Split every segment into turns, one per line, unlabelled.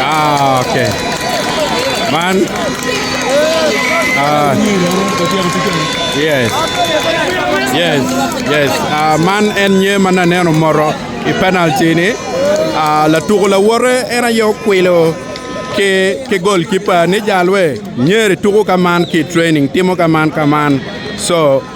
Ah, okay. Man. Ah. Yes. Yes. Yes. Ah, man en nye man aneno moro i penalty ni. Ah, latuko lawote en aye okwilo ki ki goalkeeper ni jalwe nyeri tuko ka man ki training timo ka man ka man. So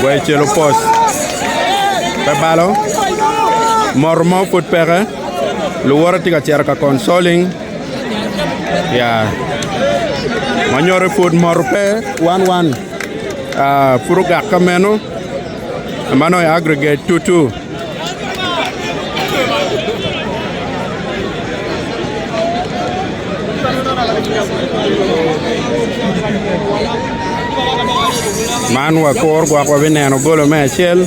Gwel cel opos. Pe balo. Mor mo pud peke. Luwote tye ka cito ka consoling. Ya. Wanyore pud mor pe wan wan. Ah, pud ogak ka meno. Mano e aggregate tutu. Man wapor gwok wabineno golo me acel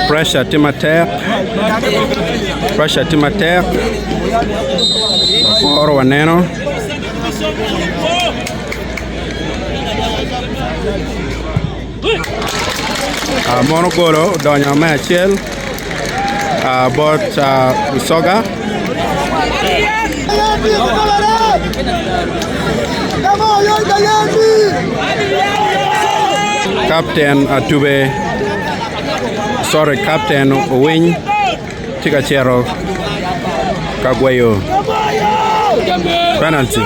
pressure tye matek pressure tye matek waporo waneno Mono golo odonyo me acel bot Busoga. Kapten Atube, sorry, Kapten Owiny. Tye ka cito ka gweyo penalty.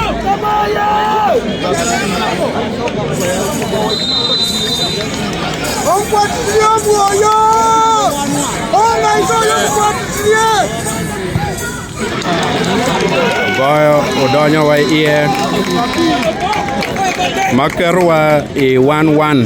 Goyo odonyo wa iye ma keto wa i one one.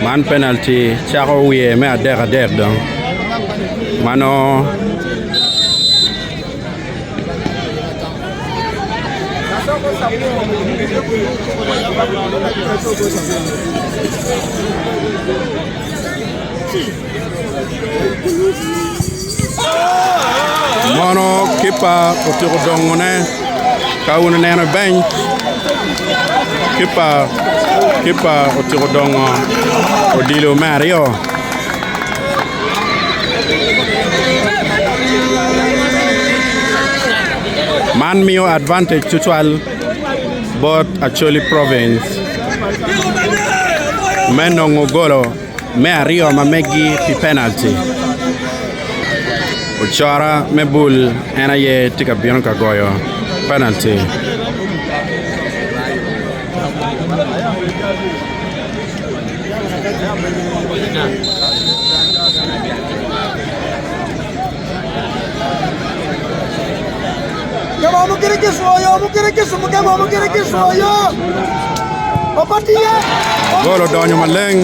Man penalty cako wiye me adek adek dong ma nongo Mono kipa otyeko dongone ka wun ineno i beny kipa kipa otyeko dongo odilo me aryo man miyo advantage tutwal bot Acholi Province me nongo golo me aryo ma megi pi penalty. Ocora me bul en aye tye ka bino ka goyo penalty. Gol odonyo maleng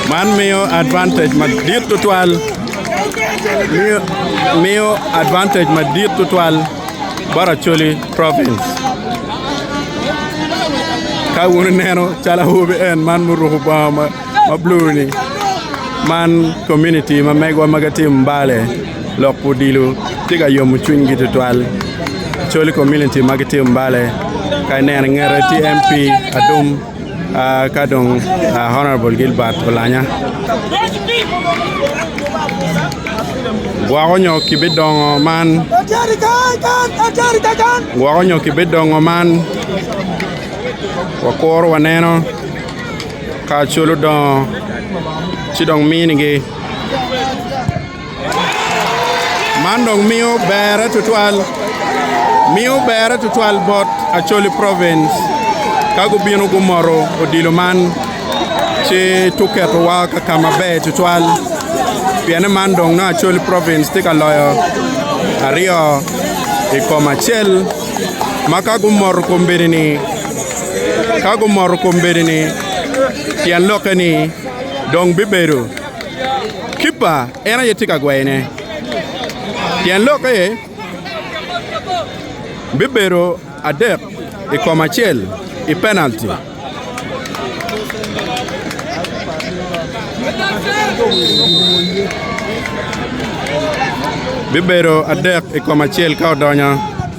man miyo advantage madit tutwal miyo advantage madit tutwal bot Acholi province ka wun ineno calo awobi en man muruku bongo ma ma blue ni man community ma megwa ma gitim Mbale lok odilo tye ka yomo cwinygi tutwal col community ma gitim Mbale ka ineno ingete tye MP Adum ka dong Honourable Gilbert Olanya gwoko nyo kibidongo man gwoko nyo kibidongo man wakuru waneno Ka cwal odongo, ci dong minigi. Man dong miyo berre tutwal miyo berre tutwal bot Acholi Province ka gubino gumoto odilo man ci tuketowa ka ka maber tutwal pienne man dong nongo Acholi Province tye ka loyo aryo i kom acel ma ka gumoto kombeddi-ni Ka gumoto kom bedi-ni, tyen lokke ni dong bibedo kippa en aye tye ka gweyone. Tyen lokke bibedo adek i kom acel i penalti. Bibedo adek i kom acel ka odonyo.